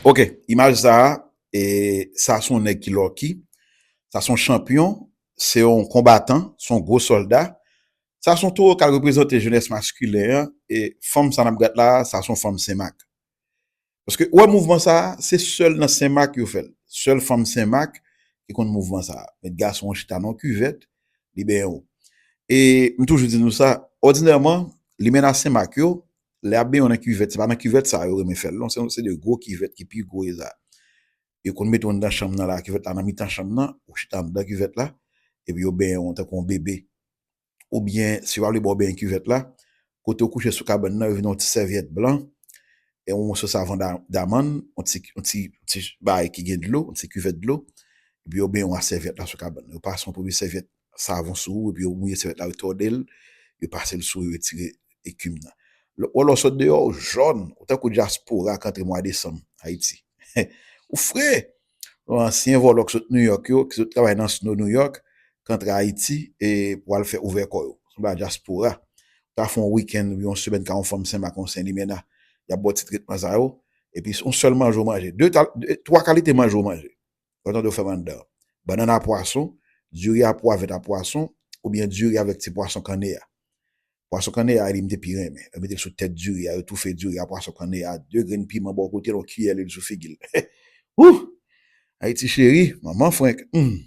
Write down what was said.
Ok imaj sa e sa son nèg ki lòki sa son chanpyon se yon konbatan son gwo sòlda sa son towo kal reprezante jenès maskilen an e fanm sa nap gad la sa son fanm senmak paske ou wè mouvman sa se sèl nan senmak yo fèl sèl fanm senmak ki konn mouvman sa met gason an chita nan yon kivèt li benyen w e m toujou di nou sa òdinèman limena senmak yo lè y ap benyen w nan kivèt, se pa nan kivèt sa a yo renmen fè l non, se yon seri de gwo kivèt ki pi gwo sa, yo konn mete w anndan chanm nan la, kivèt la nan mitan chanm nan, ou chita anndan kivèt la, epi yo benyen w tankou yon bebe, oubyen si yo pa vle ba w benyen kivèt la, kote ou kouche sou kabann nan yo vin yon ti sèvyèt blan, e yon moso savan damann, yon ti bagay ki gen dlo, yon ti kivèt dlo, epi yo benyen w ak sèvyèt la sou kabann nan, yo pase yon pwodui sèvyèt savon sou ou epi yo mouye sèvyèt la yo tòde l, yo pase l sou yo retire ekim nan. Wè lè w sot deyò ou jòn, ou tankou dyaspora k antre mwa desanm Ayiti. Ou fre! Yon ansyen vòlò k sot Nouyòk yo, ki sot travay nan sno Nouyòk, k antre Ayiti e pou al fè ouvè kò yo. Sanble a dyaspora. Ou ta fè yon wikenn oubyen yon semèn ka yon fanm senmak ak yon senlimena, y ap ba w ti tretman sa yo epi se yon sèl manje ou manje. De, twa kalite manje ou manje. Lè w tande yo fè bannann a. Bannann a pwason, diri a pwa vèt a pwason, oubyen diri avèk ti pwason kanne a. Pwason kanne a li m te pi renmen. Yo mete l sou tèt diri a, yo toufe diri a pwason kanne a, de grenn piman bò kote l, yon kiyè lwil sou figi l. Hoo! Ayiti cheri, manman frenk, humm!